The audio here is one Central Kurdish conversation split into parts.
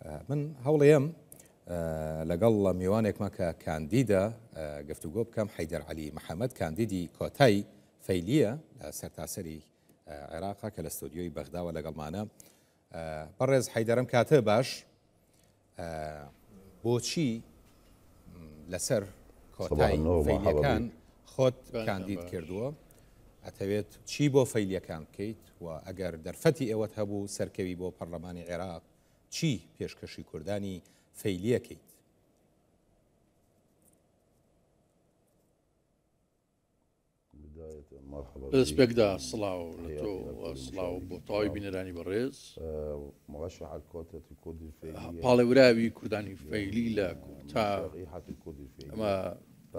من هەوڵێم لەگەڵ لە میوانێکمە کە کاندیدە گفتوگۆ بکەم حیدەر علی محەممەد کاندیدی کۆتای فەیلیە لە سەرتاسەری عێراقا کە لە ستۆدیۆی بەغداوە لەگەڵمانە بەڕێز حیدەرم کاتە باش بۆچی لەسەر کۆتای فەیلیەکان خۆت کاندید کردووە ئەتەوێت چی بۆ فەیلیەکان بکەیت و ئەگەر دەرفەتی ئێوەت هەبوو سەرکەوی بۆ پەڕلەمانی عێراق چی پێشکەشی کوردانی فەیلی ئەکەیت؟ ڕێسپێکدا سڵاو لە تۆ و سڵاو بۆ تەواوی بینەرانی بەڕێز پاڵێوراوی کوردانی فەیلی لە کۆتا ئەمە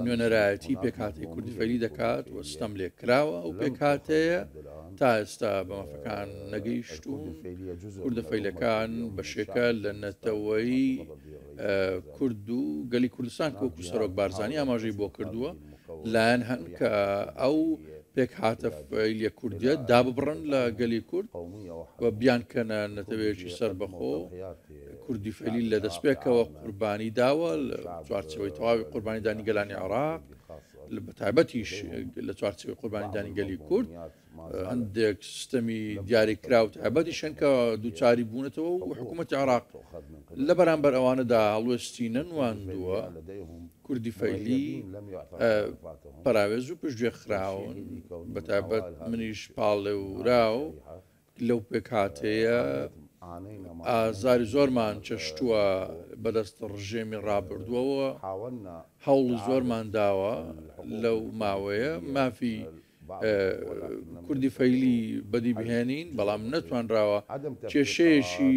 نوێنەرایەتی پێکهاتەی کوردفەیلی دەکات و ستەم لێکراوە ئەو پێکهاتەیە تا ئێستا بە مافەکان نەگەیشتوون کوردفەیلەکان بەشێکە لە نەتەوەی کورد و گەلی کوردستان کۆکو سەرۆک بارزانانی ئاماژەی بۆ کردووە لایەن هەن کە ئەو پێک هاتە فەیلیە کوردە داببڕن لە گەلی کورد و بیانکەنە نەتەوەیەکی سەر بەخۆ کوردی فەیلی لە دەستپێکەوە قوربانی داوە لە چوارچەوەی تەواوی قوربانیدانی گەلانی عێراق بە تایبەتیش لە چوارچەوەی قوربانیدانی گەلی کورد هەندێک سیستەمی دیاریکرا و تایبەتی شەنکە دووچاری بوونەتەوە و حکوومەت عراق لە بەرامبەر ئەوانەدا هەڵوێستی نەنواندووە کوردی فەیلی پراوێز و پشتگوێ خراون بەتابەت منیش پاڵێورا و لەو پێکهاتەیە ئازاری زۆرمان چەشتووە بەدەست ڕژێمی ڕابردووەوە، هەوڵی زۆرمان داوە لەو ماوەیە مافی کوردی فەیلی بەدی بهێنین، بەڵام نەتوانراوە کێشەیەکی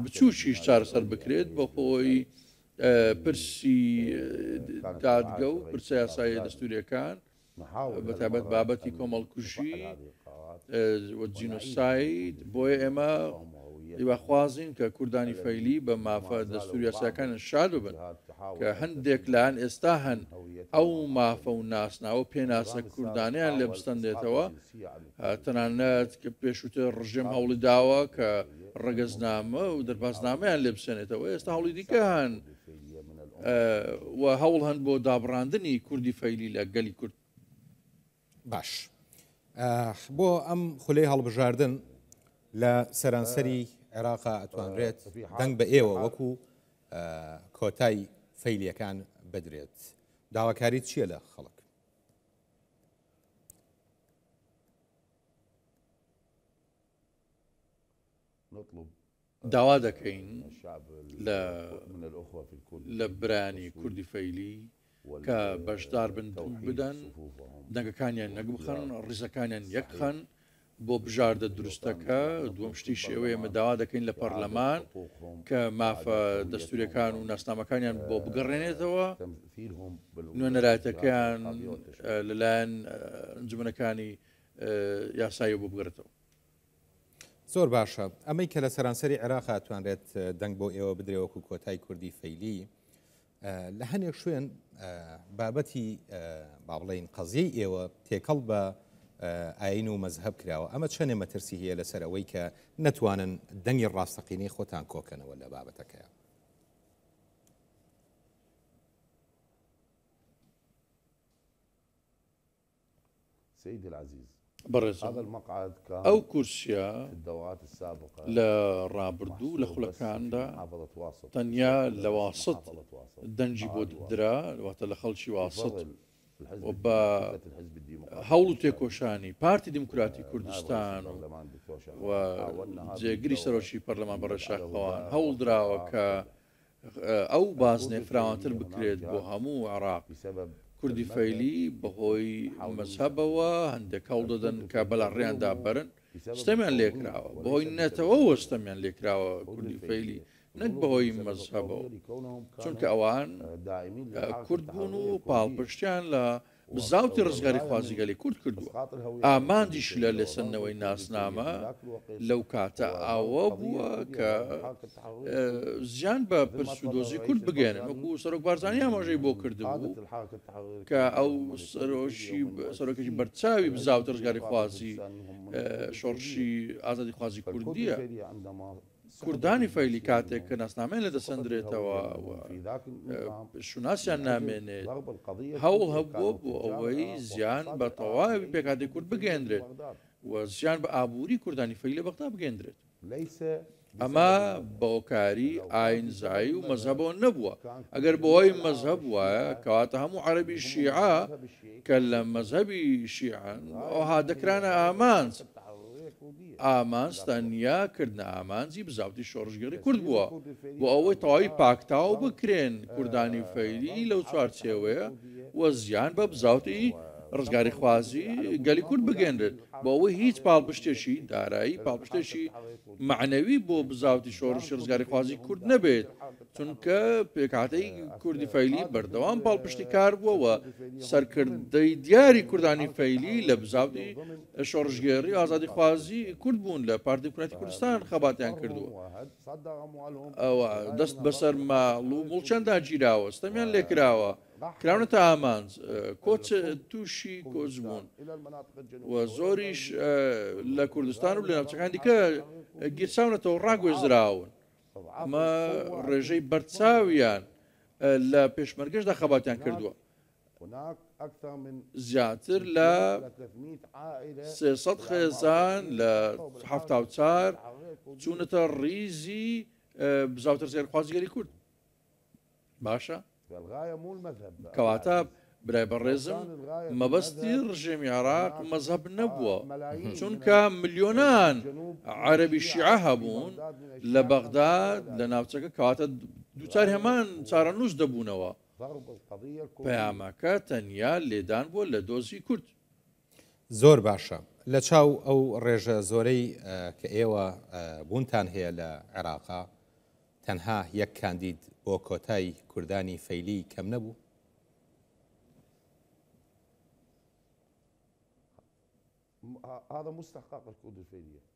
بچووکیش چارەسەر بکرێت بەهۆی پرسی دادگە و پرسە یاساییە دەستوورییەکان. بەتایبەت بابەتی کۆمەڵکوژی و جینۆساید، بۆیە ئێمە هیواخوازین کە کوردانی فەیلی بە مافە دەستوور یاسایەکانیان شاد ببن، کە هەندێک لایەن ئێستا هەن ئەو مافە و ناسناوە و پێناسە کوردانەیان لێ بستەندێتەوە، تەنانەت کە پێشووتر ڕژێم هەوڵی داوە کە ڕەگەزنامە و دەربازنامەیان لێ بسێنێتەوە، ئێستا هەوڵی دیکە هەن. و هەوڵ هەن بۆ دابڕاندنی کوردی فەیلی لە گەلی کورد. باش بۆ ئەم خولەی هەڵبژاردن لە سەرانسەری عێراقا ئەتوانرێت دەنگ بە ئێوە وەکو کۆتای فەیلیەکان بدرێت داواکاری چییە لە خەڵک نطلب داوا دەکەین لە لە برایانی کوردی فەیلی کە بەشدار بن دەنگ بدەن، دەنگەکانیان نەک بخەن، ڕیزەکانیان یەک بخەن بۆ بژاردە دروستەکە، دووەم شتیش ئەوەیە ئێمە داوا دەکەین لە پەرلەمان کە مافە دەستووریەکان و ناسنامەکانیان بۆ بگەڕێنێتەوە، نوێنەرایەتەکەیان لەلایەن ئەنجومەنەکانی یاساییەوە بۆ بگەڕێتەوە. زۆر باشە ئەمەی کە لە سەرانسەری عێراق توانرێت دەنگ بۆ ئێوە بدرێ وەکو کۆتای کوردی فەیلی لە هەنێک شوێن بابەتی با بڵین قەزیی ئێوە تێکەڵ بە ئاین و مەذهب کراوە ئەمە چەنێ مەترسی هەیە لەسەر ئەوەی کە نەتوانن دەنگی ڕاستەقینەی خۆتان کۆکەنەوە لە بابەتەکەیان بەڕێزم ئەو کورسیە لە ڕابردوو لە خولەکاندا تەنیا لە واسط دەنگی بۆ درا واتە لە خەڵکی واسط و بە هەوڵ و تێکۆشانی پارتی دیموکراتی کوردستان و جێگری سەرۆکی پەرلەمان بەڕێز شاخەوان هەوڵ دراوە کە ئەو بازنەیە فراوانتر بکرێت بۆ هەموو عێراق. کوردی فەیلی بەهۆی مەزهەبەوە هەندێک هەوڵ دەدەن کە بەلا ڕێیان دابەرن، ستەمیان لێکراوە، بەهۆی نەتەوەوە ستەمیان لێکراوە کوردی فەیلی نەک بەهۆی مەزهەبەوە، چونکە ئەوان کورد بوون و پاڵپشتیان لە بزاوتی ڕزگاریخوازی گەلی کورد کردووە، ئامانجیشی لە لێسەندنەوەی ناسنامە لەو کاتە ئەوە بووە کە زیان بە پرس و دۆزی کورد بگەێنن، وەکو سەرۆک بارزانی ئاماژەی بۆ کردبوو کە ئەو سەرۆکێکی بەرچاوی بزاوتی ڕزگاریخوازی شۆڕشی ئازادیخوازی کوردیە. کوردانی فەیلی کاتێک کە ناسنامەیان لێ دەسەندرێتەوە و شوناسیان نامێنێت، هەوڵ هەبووە بۆ ئەوەی زیان بە تەواوی پێکهاتەی کورد بگەیەندرێت و زیان بە ئابووری کوردانی فەیلی لە بەغدا بگەیەندرێت. ئەمە بە هۆکاری ئایینزایی و مەزهەبەوە نەبووە، ئەگەر بەهۆی مەزهەب بووایە، کەواتە هەموو عەرەبی شیعە کە لە مەزهەبی شیعەن، ئەوها دەکرانە ئامانج. ئامانج تەنیا کردنە ئامانجی بزاوتی شۆڕشگێڕی کورد بووە بۆ ئەوەی تەواوی پاکتاو بکرێن کوردانی فەیلی لەو چوارچێوەیە و زیان بە بزاوتی ڕزگاریخوازی گەلی کورد بگەێنرێت بۆ ئەوەی هیچ پاڵپشتێکی دارایی پاڵپشتێکی مەعنەوی بۆ بزاوتی شۆڕشی ڕزگاریخوازی کورد نەبێت چونکە پێکهاتەی کوردی فەیلی بەردەوام پاڵپشتی کار بووەوە سەرکردەی دیاری کوردانی فەیلی لە بزاوتی شۆڕشگێڕی و ئازادیخوازی کورد بوون لە پارتی دیموکراتی کوردستان خەباتیان کردووە ئەوە دەست بەسەر ماڵ و مڵچەندا گیراوە ستەمیان لێکراوە کراونە تا ئامانج کۆچ تووشی کۆچ بوون و زۆریش لە کوردستان و لە ناوچەکان دیکە گیرساونەتەوە ڕاگوێزراون ئەمە ڕێژەی بەرچاویان لە پێشمەرگەشدا خەباتیان کردووە زیاتر لە سێ سەد خێزان لە حەفتا و چار چوونەتە ڕیزی بزاوترسێنخوازی گەلی کورد باشە کەواتە برای بەڕێزم مەبەستی ڕژێمی عراق مەزهب نەبووە چونکە ملیۆنان عەربی شیعە هەبوون لە بەغداد لە ناوچەکە کاتە دووچار هەمان چارەنووس دەبوونەوە پەیامەکە تەنیا لێدان بووە لە دۆزی کورد. زۆر باشە لە چاو ئەو ڕێژە زۆرەی کە ئێوە بوونتان هەیە لە عێراقا تەنها یەک کاندید بۆ کۆتای کوردانی فەیلی کەم نەبوو؟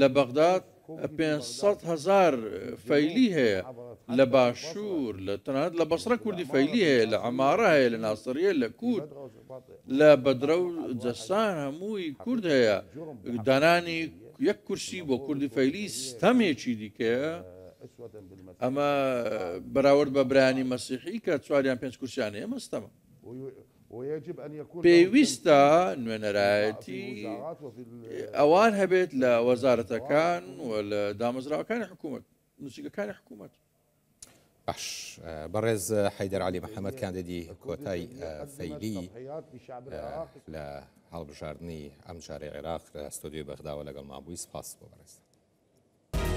لە بەغداد پێنج سەد هەزار فەیلی هەیە لە باشوور لە تەنانەت لە بەسڕە کوردی فەیلی هەیە لە عەمارە هەیە لە ناسریە لە کووت لە بەدرە و جەسان هەمووی کورد هەیە دانانی یەک کورسی بۆ کوردی فەیلی ستەمێکی دیکەیە ئەمە بەراورد بە برانی مەسیحی کە چواریان پێنج کورسیانەیە مەستەمە پێویستە نوێنەرایەتی ئەوان هەبێت لە وەزارەتەکان و لە دامەزراوەکانی حکوومەت نووسیگەکانی حکوومەت. باش بەڕێز حەیدەر علی محەممەد کاندیدی کۆتای فەیلی لە هەڵبژاردننی ئەم جارێ عێراق لە ستۆدیۆی بەغداوە لەگەڵ مابووی سپاس بۆ بەڕێز.